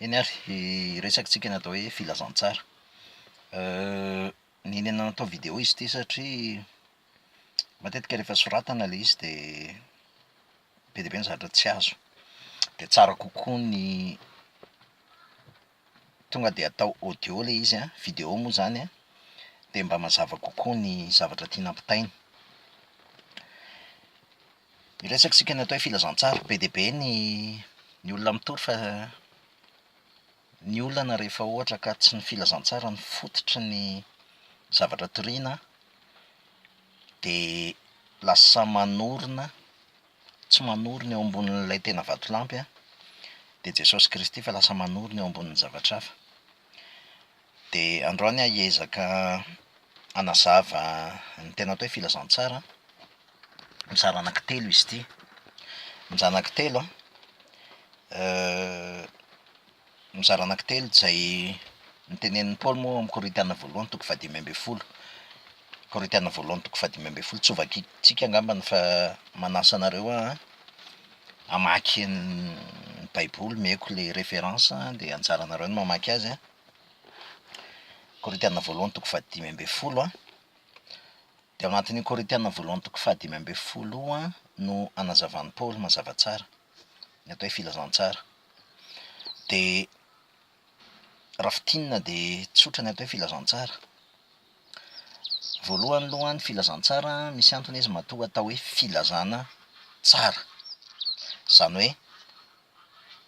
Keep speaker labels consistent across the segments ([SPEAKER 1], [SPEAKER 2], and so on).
[SPEAKER 1] Eny ary, hiresakantsika ny atao hoe filazantsara. Nenenina natao vidéo izy ity satria matetika rehefa soratana ilay izy dia be dia be ny zavatra tsy azo. Dia tsara kokoa ny tonga dia atao audio ilay izy an, vidéo moa izany an, dia mba mazava kokoa ny zavatra tiana ampitaina. Miresaka isika ny atao hoe filazantsara. Be dia be ny ny olona mitory fa ny olana rehefa ohatra ka tsy ny filazantsara no fototry ny zavatra toriana dia lasa manorina, tsy manorina eo ambonin'ilay tena vatolampy an, dia Jesosy Kristy fa lasa manorina eo ambonin'ny zavatra hafa. Dia androany aho hiezaka hanazava ny tena atao hoe filazantsara an, mizara anankitelo izy ity. Ny mizara anankitelo an, ny mizara anankitelo izay notenenin'i Paoly moa ao amin'ny Korintiana voalohany toko fahadimy ambin'ny folo. Korintiana voalohany toko fahadimy ambin'ny folo, tsy ho vakintsika angambany fa manasa anareo an, hamaky ny baiboly, omeko ilay référence dia anjaranareo ny mamaky azy an, Korintiana voalohany toko fahadimy ambin'ny folo an, dia ao anatin'io Korintiana voalohany toko fahadimy ambin'ny folo io an no anazavan'i Paoly mazava tsara ny atao hoe filazantsara. Dia raha fintinina dia tsotra ny atao hoe filazantsara. Voalohany aloha ny filazantsara misy antony izy matoa atao hoe filazana tsara. Izany hoe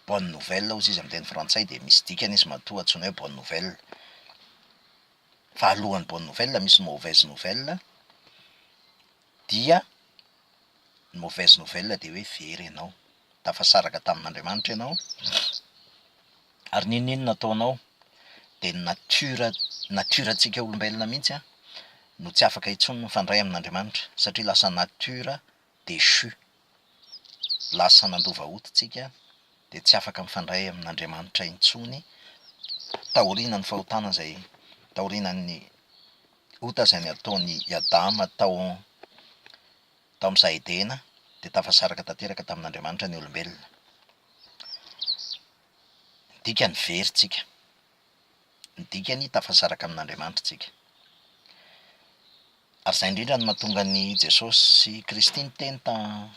[SPEAKER 1] bonne nouvelle hozy izy amin'ny teny frantsay dia misy dikany izy matoa antsoina hoe bonne nouvelle. Fa alohan'ny bonne nouvelle misy ny mauvaise nouvelle dia ny mauvaise nouvelle dia hoe very ianao. tafasaraka tamin'Andriamanitra ianao ary n'inon'inona ataonao dia ny nature nature-ntsika olombelona mihitsy an no tsy afaka intsony mifandray amin'Andriamanitra satria lasa nature déchue, lasa nandova hoditsika dia tsy afaka mifandray amin'Andriamanitra intsony taorian'ny fahotana izay taorian'ny ota izay nataon'i Adama tao Tao amin'ny saha Edena dia tafasaraka tanteraka tamin'Andriamanitra ny olombelona. Ny dikany very tsika. Ny dikany tafasaraka amin'Andriamanitra tsika. Ary izay indrindra no mahatonga an'i Jesosy sy Kristy niteny ta-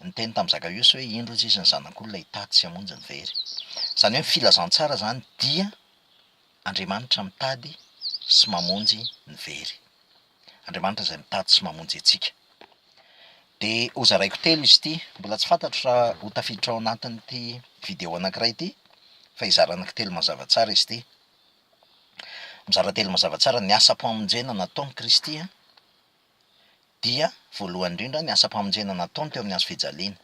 [SPEAKER 1] niteny tamin'i Zakaiosa hoe indro izy izy ny zanak'olona hitady sy hamonjy ny very. Izany hoe ny filazantsara izany dia Andriamanitra mitady sy mamonjy ny very. Andriamanitra izay mitady sy mamonjy antsika. Dia hozaraiko telo izy ity, mbola tsy fantatro raha ho tafiditra ao anatin'ity video anankiray ity, fa hizara anankitelo mazava tsara izy ity. Mizara telo mazava tsara, ny asam-pamonjena nataon'i Kristy dia voalohany indrindra ny asam-pamonjena nataony teo amin'ny hazo fijaliana.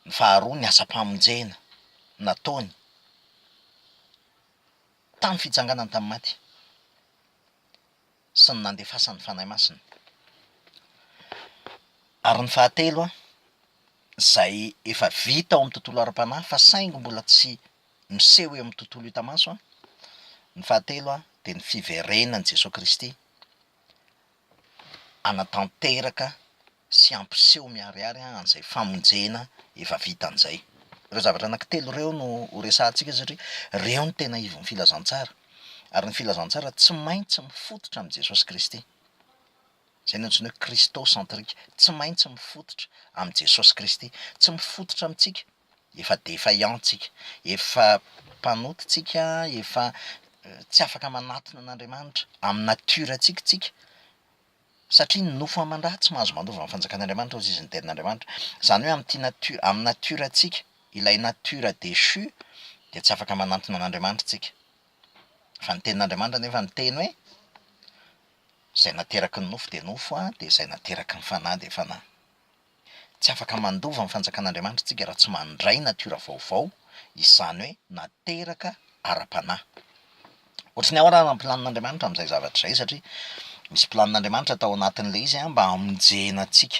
[SPEAKER 1] Ny faharoa ny asam-pamonjena nataony Tamin'ny fitsanganany tamin'ny maty sy ny nandefasan'ny Fanahy Masina ary ny fahatelo izay efa vita ao amin'ny tontolo ara-panahy fa saingy mbola tsy miseho eo amin'ny tontolo hita maso, ny fahatelo dia ny fiverenan'i Jesoa Kristy hanatanteraka sy hampiseho miharihary an'izay famonjena efa vita an'izay. Ireo zavatra anankitelo ireo no ho resahantsika satria ireo no tena ivon'ny filazantsara. Ary ny filazantsara tsy maintsy mifototra amin'i Jesosy Kristy. Izay no antsoina hoe Christo-centrique, tsy maintsy mifototra amin'i Jesosy Kristy. Tsy mifototra amintsika, efa défaillant tsika, efa mpanota tsika, efa tsy afaka manatona an'Andriamanitra amin'ny nature-ntsika tsika, Satria ny nofo aman-draha tsy mahazo mandova ny fanjakan'Andriamanitra hozy izy ny tenin'Andriamanitra. Izany hoe amin'ity natiora, amin'ny natiorantsika, ilay natiora déchu, dia tsy afaka manantona an'Andriamanitra tsika. Fa ny tenin'Andriamanitra anefa miteny hoe, izay nateraky ny nofo dia nofo an, dia izay nateraky ny fanahy dia fanahy. Tsy afaka mandova ny fanjakan'Andriamanitra isika raha tsy mandray natiora vaovao, izany hoe nateraka ara-panahy. Ohatry ny ahoana ary ny planin'Andriamanitra amin'izay zavatra izay? Satria misy planin'Andriamanitra tao anatin'ilay izy mba hamonjena antsika.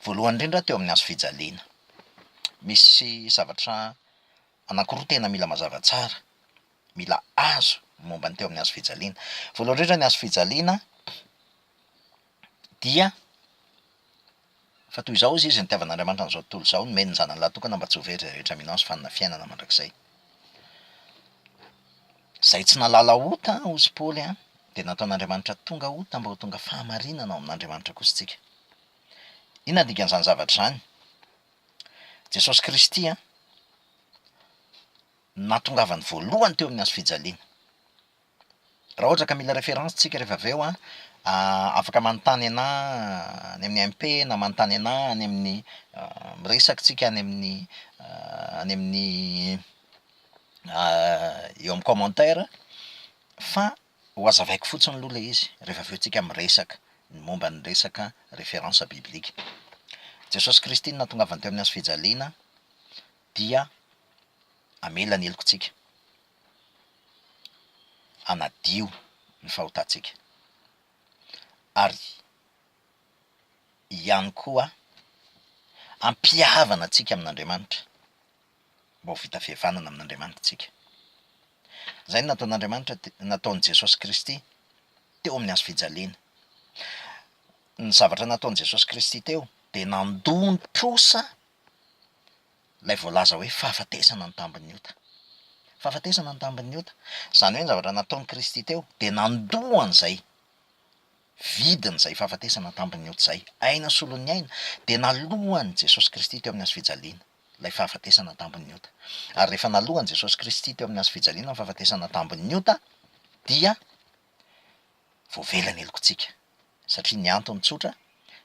[SPEAKER 1] Voalohany indrindra teo amin'ny hazo fijaliana. Misy zavatra anankiroa tena mila mazava tsara, mila azo momba ny teo amin'ny hazo fijaliana. Voalohany indrindra ny hazo fijaliana. dia fa toy izao hozy izy, nitiavan'Andriamanitra an'izao tontolo izao, nomeny ny Zanany lahatokana mba tsy ho very izay rehetra mino Azy fa hanana fiainana mandrakizay. Izay tsy nahalala ota, hozy Paoly an, dia nataon'Andriamanitra tonga ota mba ho tonga fahamarinana ao amin'Andriamanitra kosa isika. Inona ny dikan'izany zavatra izany? Jesosy Kristy an, natongavany voalohany teo amin'ny hazo fijaliana. Raha ohatra ka mila référence tsika rehefa avy eo an, afaka manontany anà any amin'ny MP na manontany anà any amin'ny miresaka tsika any amin'ny any amin'ny eo amin'ny commentaire fa ho hazavaiko fotsiny aloha ilay izy rehefa avy eo tsika miresaka ny momba ny resaka référence biblique. Jesosy Kristy no nahatongavany teo amin'ny hazo fijaliana dia hamela ny heloka antsika. hanadio ny fahotantsika, ary ihany koa hampihavana antsika amin'Andriamanitra, mba ho vita fihavanana amin'Andriamanitra tsika. Izay no nataon'Andriamanitra te- nataon'i Jesosy Kristy teo amin'ny hazo fijaliana. Ny zavatra nataon'i Jesosy Kristy teo dia nandoa ny trosa. ilay voalaza hoe fahafatesana ny tambin'ny ota. Fahafatesana ny tambin'ny ota. Izany hoe ny zavatra nataon'i Kristy teo dia nandoa an'izay vidiny izay fahafatesana ny tambin'ny ota izay. Aina solon'ny aina. Dia naloa an'i Jesosy Kristy teo amin'ny hazo fijaliana ilay fahafatesana ny tambin'ny ota. Ary rehefa naloa an'i Jesosy Kristy teo amin'ny hazo fijaliana ny fahafatesana ny tambin'ny ota dia voavela ny helokontsika. Satria ny antony tsotra,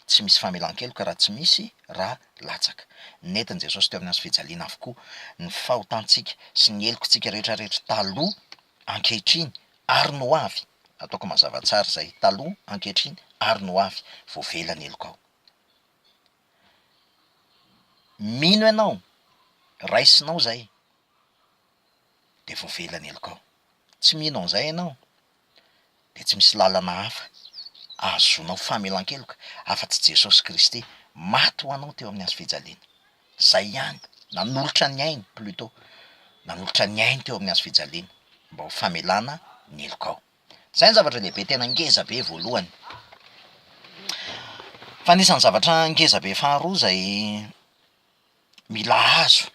[SPEAKER 1] tsy misy famelan-keloka raha tsy misy ra latsaka. Nentin'i Jesosy teo amin'ny hazo fijaliana avokoa ny fahotantsika sy ny helokontsika rehetra rehetra taloha, ankehitriny ary ny ho avy. Ataoko mazava tsara izay, taloha, ankehitriny ary ny ho avy. Voavela ny helokao. Mino ianao, raisinao izay, dia voavela ny helokao. Tsy mino an'izay ianao? dia tsy misy lalana hafa ahazoanao famelan-keloka afa-tsy Jesosy Kristy maty ho anao teo amin'ny hazo fijaliana. Izay ihany, nanolotra ny ainy, plutot, nanolotra ny ainy teo amin'ny hazo fijaliana mba ho famelana ny helokao. Izay ny zavatra lehibe tena ngeza be voalohany. Fa anisan'ny zavatra ngeza be faharoa izay mila azo.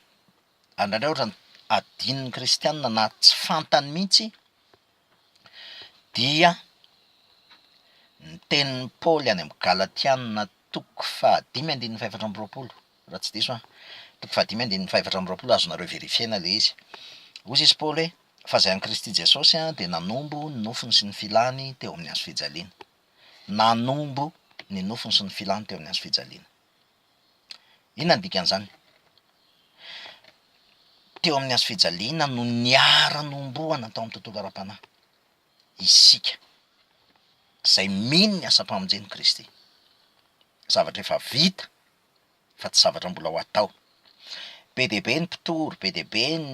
[SPEAKER 1] ary indraindray ohatra ny adinon'ny kristianina na tsy fantany mihitsy dia ny tenin'i Paoly any amin'ny Galatiana toko fahadimy andininy fahefatra amby roapolo raha tsy diso an, toko fahadimy andininy fahefatra amby roapolo azonareo verifier-na ilay izy. Hoy izy Paoly hoe, fa izay an'i Kristy Jesosy an dia nanombo ny nofony sy ny filany teo amin'ny hazo fijaliana. Nanombo ny nofony sy ny filany teo amin'ny hazo fijaliana. Inona ny dikan'izany? Teo amin'ny hazofijaliana no niara-nohomboana tao amin'ny tontolo ara-panahy isika izay mino ny asam-pamonjen'i Kristy. Zavatra efa vita fa tsy zavatra mbola ho atao. Be dia be ny mpitory, be dia be ny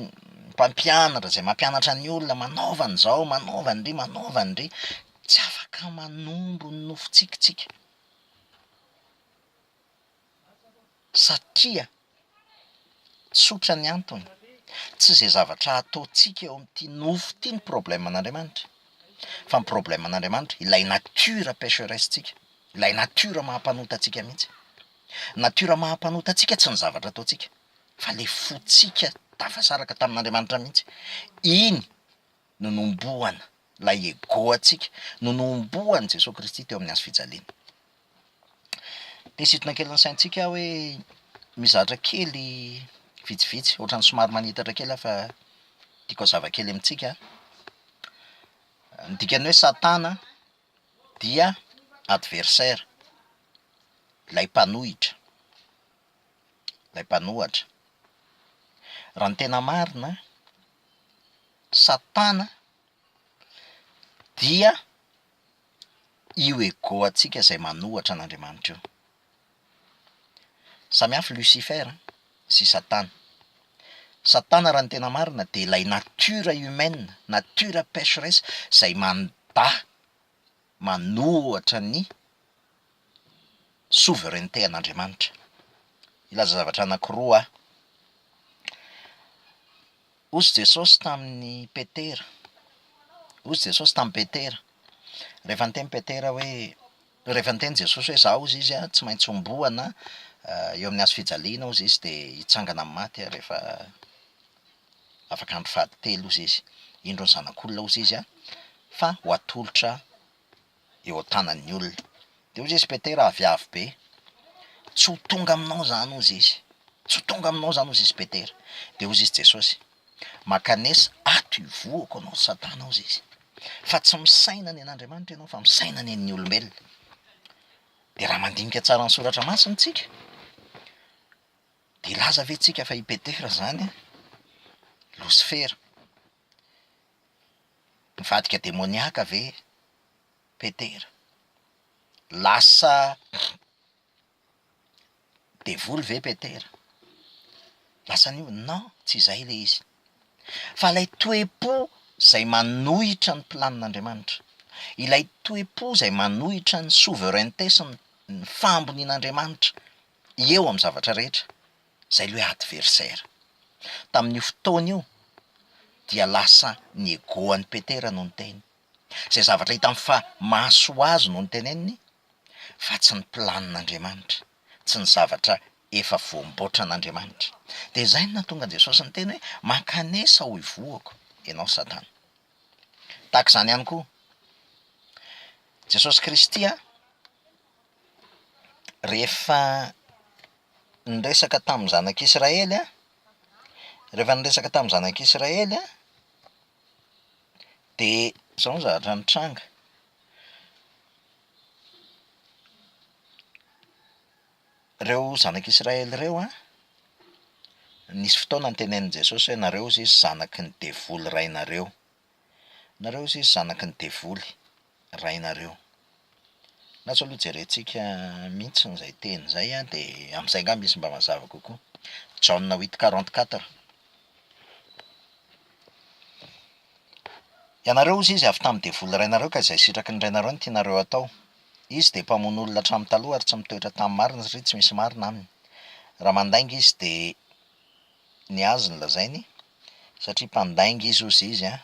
[SPEAKER 1] mpampianatra izay mampianatra ny olona manaova an'izao, manaova an'ndry, manaova an'ndry. Tsy afaka manombo ny nofontsika isika. Satria, tsotra ny antony, tsy izay zavatra ataontsika eo amin'ity nofo ity no problème an'Andriamanitra, fa ny problème an'Andriamanitra ilay nature pecheresse-tsika, ilay nature maha mpanota antsika mihitsy. Nature maha mpanota antsika tsy ny zavatra ataontsika, fa le fontsika tafasaraka tamin'Andriamanitra mihitsy, iny. no nohomboana, ilay ego-ntsika no nohomboan'i Jesoa Kristy teo amin'ny hazofijaliana. Te hisintona kely ny saintsika aho hoe mizatra kely vitsivitsy, ohatran'ny somary manitatra kely aho fa tiako hazava kely amintsika an. Ny dikan'ny hoe Satana dia adversaire, ilay mpanohitra, ilay mpanohatra. Raha ny tena marina an. Satana dia io ego antsika izay manohatra an'Andriamanitra io. Samy hafa Lucifer sy Satana. Satana raha ny tena marina dia ilay nature humaine, nature pecheresse izay manda. manohatra ny souveraineté an'Andriamanitra. Hilaza zavatra anankiroa aho. Hozy Jesosy tamin'i Petera, hozy Jesosy tamin'i Petera, rehefa niteny Petera hoe, rehefa niteny Jesosy hoe izaho hozy izy tsy maintsy homboana eo amin'ny hazofijaliana hozy izy dia hitsangana amin'ny maty aho rehefa. afaka andro fahaditelo ozy izy, indro ny zanak'olona ozy izy a, fa ho atolotra eo an-tanan'ny olona. De ozy izy Petera avy avo be, tsy ho tonga aminao zany ozy izy, tsy ho tonga aminao zany ozy izy Petera, de ozy izy Jesosy, mankanesa ato ivohoko anao satana ozy izy, fa tsy misaina ny an'Andriamanitra ianao fa misaina ny an'ny olombelona, de raha mandinika tsara ny soratra masina tsika, Hilaza ve tsika fa i Petera zany Losifera? Mivadika demoniaka ve Petera? Lasa devoly ve Petera? Lasa an'io? Non, tsy izay le izy. Fa lay toe-po zay manohitra ny planin'Andriamanitra, ilay toe-po zay manohitra ny souveraineté sy ny fahambonian'Andriamanitra Eo amin'ny zavatra rehetra, izay ilay hoe adversaire. Tamin'io fotoana io dia lasa ny ego an'i Petera no niteny. Izay zavatra hitany fa mahasoa ho azy no noteneniny fa tsy ny planin'Andriamanitra, tsy ny zavatra efa voamboatran'Andriamanitra. Dia izay no nahatonga an'i Jesosy niteny hoe, mankanesa ho ivohoko ianao Satana. Tahaka izany ihany koa Jesosy Kristy an! Rehefa niresaka tamin'ny zanak'Israely an, rehefa niresaka tamin'ny zanak'Israely an, dia zao ny zavatra nitranga. Ireo zanak'Israely ireo an, nisy fotoana nitenenin'i Jesosy hoe nareo hozy zanaky ny devoly rainareo. Nareo zisy zanaky ny devoly rainareo. Na tsy aloha jerentsika mihitsy izay teny izay an, dia amin'izay angamba izy mba mazava kokoa. Jaona huit quarante quatre. Ianareo hozy izy avy tamin'ny devoly rainareo ka izay sitraky ny rainareo no tianareo hatao. Izy dia mpamono olona hatramin'ny taloha ary tsy mitoetra tamin'ny marina satria tsy misy marina aminy. Raha mandainga izy dia. ny azy ny lazainy satria mpandainga izy ozy izy an,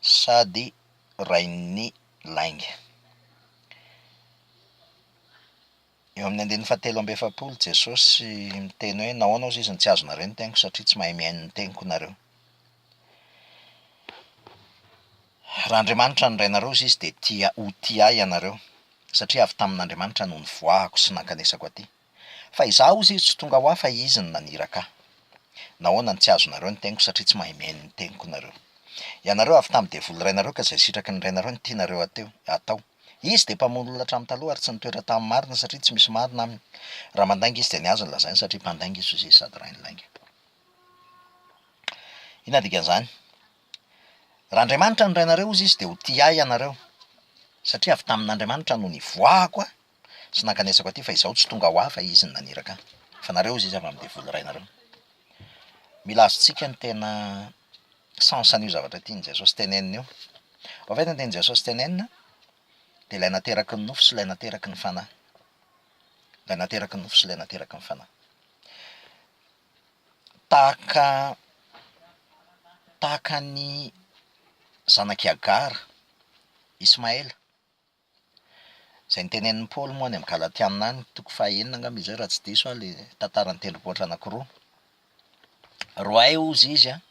[SPEAKER 1] sady rain'ny lainga. Eo amin'ny andininy fahatelo amby efapolo Jesosy miteny hoe nahoana ozy izy no tsy azonareo ny teniko satria tsy mahay mihaino ny teniko nareo. Raha Andriamanitra no Rainareo ozy izy dia tia ho tia ahy ianareo satria avy tamin'Andriamanitra no nivoahako sy nankanesako aty. Fa izaho ozy tsy tonga ho ahy fa izy no naniraka ahy. Nahoana no tsy azonareo ny teniko satria tsy mahay mihaino ny teniko nareo. Ianareo avy tamin'ny devoly rainareo ka izay sitraky ny rainareo no tianareo ateo, atao. Izy dia mpamono olona hatramin'ny taloha ary tsy nitoetra tamin'ny marina satria tsy misy marina aminy. Raha mandainga izy dia ny azy no lazainy satria mpandainga izy ozy izy sady rain'ny lainga. Inona dikan'izany? Raha Andriamanitra no rainareo ozy izy dia ho tia ahy ianareo satria avy tamin'Andriamanitra no nivoahako aho Tsy nankanesako aty fa izaho tsy tonga ho ahy fa izy no naniraka ahy. Fa nareo hozy izy avy amin'ny devoly rainareo. Mila azontsika ny tena sens an'io zavatra tian'i Jesosy tenenina io. En fait ny tian'i Jesosy tenenina dia ilay nateraky ny nofo sy ilay nateraky ny fanahy. Ilay nateraky ny nofo sy ilay nateraky ny fanahy. Tahaka tahaka ny zanak'i Agara Ismaela. Izay notenenin'i Paoly moa any amin'ny Galatiana any, toko fahenina angamba izay raha tsy diso aho ilay tantara ny tendrombohitra anankiroa. Roahy hozy izy an,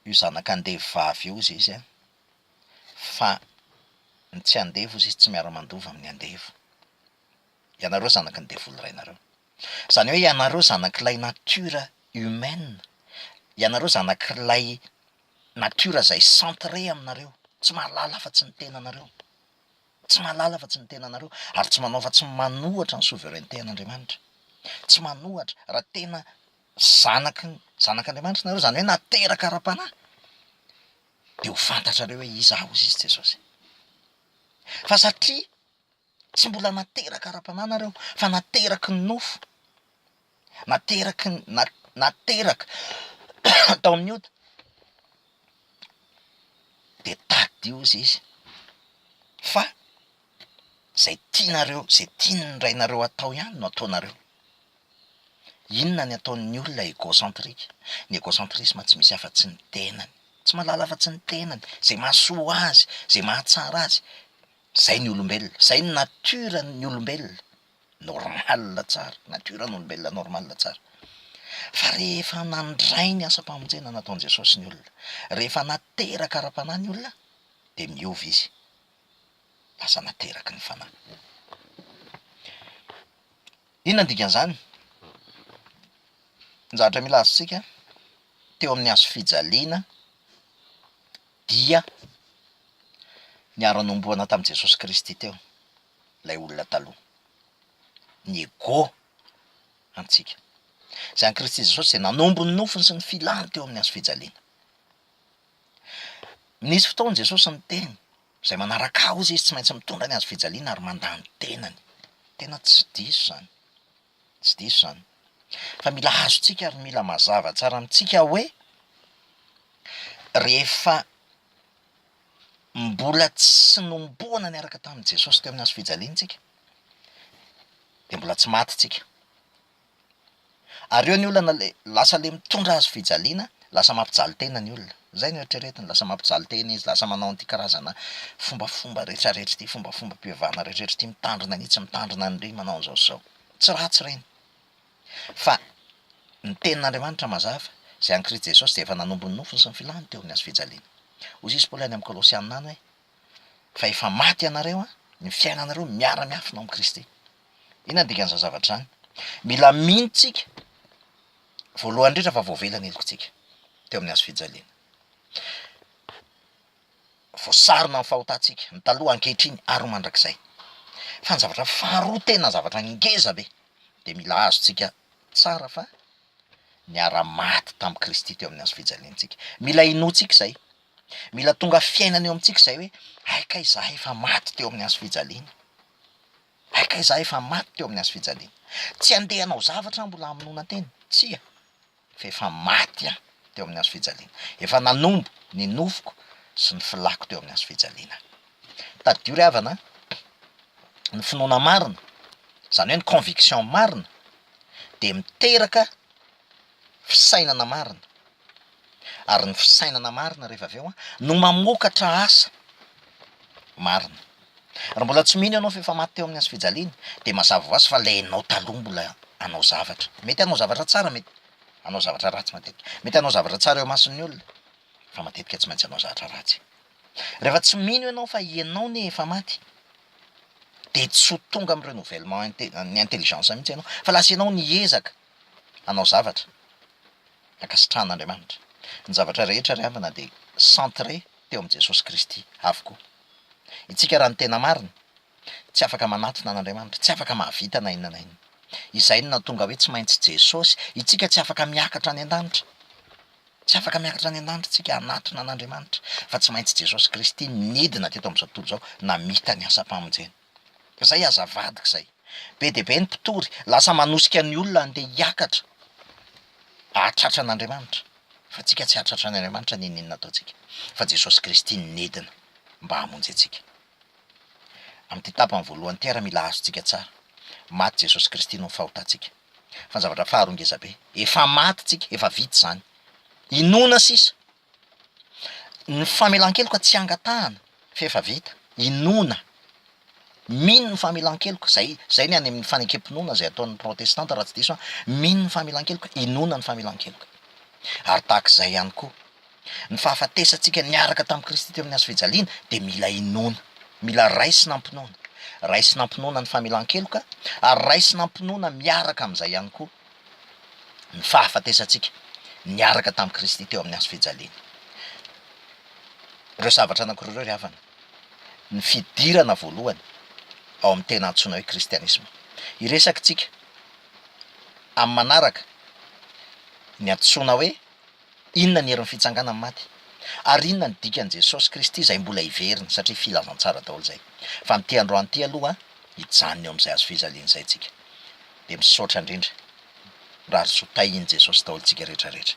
[SPEAKER 1] io zanaka andevo vavy io hozy izy an, fa ny tsy andevo hozy izy tsy miara-mandova amin'ny andevo. Ianareo zanaky ny devoly rainareo. Izany hoe ianareo zanak'ilay nature humaine, ianareo zanak'ilay nature izay centré aminareo, tsy mahalala afa-tsy ny tenanareo, tsy mahalala afa-tsy ny tenanareo, ary tsy manao afa-tsy ny manohatra ny souveraineté an'Andriamanitra, tsy manohatra, raha tena zanaky ny zanak'Andriamanitra nareo, izany hoe nateraka ara-panahy, dia ho fantatrareo hoe iza aho, hoy Jesosy. Fa satria Tsy mbola nateraka ara-panahy nareo fa nateraky ny nofo, nateraky ny nateraka tao amin'ny ota, de tadidio hozy izy fa zay tianareo, zay tian'ny rainareo atao ihany no ataonareo, inona ny ataon'ny olona egocentrique, ny egocentrisme tsy misy afa-tsy ny tenany, tsy mahalala afa-tsy ny tenany, zay mahasoa azy, zay mahatsara azy. Zay ny olombelona, zay ny nature ny olombelona normal tsara, nature ny olombelona normal tsara. Fa rehefa nandray ny asam-pamonjena nataon'i Jesosy ny olona, rehefa nateraka ara-panahy ny olona dia miova izy, lasa nateraky ny fanahy. Inona ny dikan'izany? Ny zavatra mila azontsika, teo amin'ny hazofijaliana, Dia niara-nohomboana tamin'i Jesosy Kristy teo ilay olona taloha. Ny ego antsika. Izay an'i Kristy Jesosy dia nanombo ny nofiny sy ny filany teo amin'ny hazofijaliana. Nisy fotoana Jesosy niteny, izay manaraka ahy hozy izy tsy maintsy mitondra ny hazofijaliana ary mandà ny tenany. Tena tsy diso izany. Tsy diso izany. Fa mila azontsika ary mila mazava tsara amintsika hoe rehefa mbola tsy nomboana niaraka tamin'i Jesosy teo amin'ny hazo fijaliana isika dia mbola tsy maty isika. Ary eo ny olana lasa le mitondra hazo fijaliana, lasa mampijaly tena ny olona. Izay no eritreretiny, lasa mampijaly tena izy, lasa manao an'ity karazana fombafomba retraretra ity, fombafombam-pivavahana retraretra ity, mitandrina an'itsy, mitandrina an'ireny, manao an'izao sy izao. Tsy ratsy ireny. Fa ny tenin'Andriamanitra mazava, izay an'i Kristy Jesosy dia efa nanompo ny nofony sy ny filany teo amin'ny hazo fijaliana. Hoy Jesosy Paoly any amin'ny Kolosiana any hoe, Fa efa maty ianareo an, ny fiainanareo miara-miafina ao amin'i Kristy. Inona ny dikan'izany zavatra izany? Mila mino tsika. Voalohany indrindra fa voavela ny helokintsika teo amin'ny hazo fijaliana. Voasarona ny fahotantsika, ny taloha, ankehitriny ary ho mandrakizay. Fa ny zavatra faharoa tena zavatra ngeza be dia mila azontsika tsara fa niara-maty tamin'i Kristy teo amin'ny hazo fijaliantsika. Mila inoantsika izay, mila tonga fiainana eo amintsika izay hoe hay kay izahay efa maty teo amin'ny hazo fijaliana. Maika izaho efa maty teo amin'ny hazo fijaliana. Tsy handeha hanao zavatra aho mbola hamonoana tena. Tsia, fa efa maty aho teo amin'ny hazo fijaliana. Efa nanombo ny nofoko sy ny filàko teo amin'ny hazo fijaliana. Tadidio ry havana a! Ny finoana marina, izany hoe ny conviction marina dia miteraka fisainana marina. Ary ny fisainana marina rehefa avy eo no mamokatra asa marina. Raha mbola tsy mino ianao fa efa maty teo amin'ny hazofijaliana dia mazava ho azy fa ilay ianao taloha mbola hanao zavatra. Mety hanao zavatra tsara, mety hanao zavatra ratsy matetika. Mety hanao zavatra tsara eo imason'ny olona fa matetika tsy maintsy hanao zavatra ratsy. Rehefa tsy mino ianao fa ianao anie efa maty dia tsy ho tonga amin'ny renouvellement inte- ny intelligence mihitsy ianao fa lasa ianao niezaka hanao zavatra ankasitrahan'Andriamanitra. Ny zavatra rehetra ry havana dia centre teo amin'i Jesosy Kristy avokoa. Itsika raha ny tena marina, tsy afaka manatona an'Andriamanitra, tsy afaka mahavita na inona na inona. Izay no nahatonga hoe tsy maintsy Jesosy, itsika tsy afaka miakatra any an-danitra, tsy afaka miakatra any an-danitra itsika hanatona an'Andriamanitra fa tsy maintsy Jesosy Kristy nidina teto amin'izao tontolo izao namita ny asam-pamonjena. Zay aza vadiko zay. Be dia be ny mpitory, lasa manosika ny olona handeha hiakatra hahatratra an'Andriamanitra, fa antsika tsy hahatratra an' Andriamanitra n'inon'inona ataontsika, fa Jesosy Kristy no nidina mba hamonjy antsika. Amin'ity tapany voalohany ity ary mila azontsika tsara, maty Jesosy Kristy noho ny fahotantsika, fa ny zavatra faharoa ngezabe, efa maty tsika, efa vita izany, inoana sisa Ny famelan-keloka tsy angatahana f'efa vita. Inoana, mino ny famelan-keloka, zay zay ny any amin'ny fanekem-pinoana zay ataon'ny protestanta raha tsy diso aho, mino ny famelan-keloka, inoana ny famelan-keloka. Ary tahaka izay ihany koa, ny fahafatesantsika niaraka tamin'i Kristy teo amin'ny hazo fijaliana dia mila inoana, mila raisina am-pinoana. Raisina am-pinoana ny famelan-keloka ary raisina am-pinoana miaraka amin'izay ihany koa ny fahafatesantsika niaraka tamin'i Kristy teo amin'ny hazo fijaliana. Ireo zavatra anankiroa ireo ry havana, ny fidirana voalohany ao amin'ny tena antsoina hoe kristianisma. Hiresaka isika amin'ny manaraka ny antsoina hoe Inona ny herin'ny fitsanganan'ny maty? Ary inona ny dikan'i Jesosy Kristy izay mbola hiverina, satria filazantsara daholo izay. Fa ny te handroany ity aloha hijanona eo amin'izay hazofijaliana izay tsika. Dia misaotra indrindra. Mirary soa tahin'i Jesosy daholo tsika rehetra rehetra.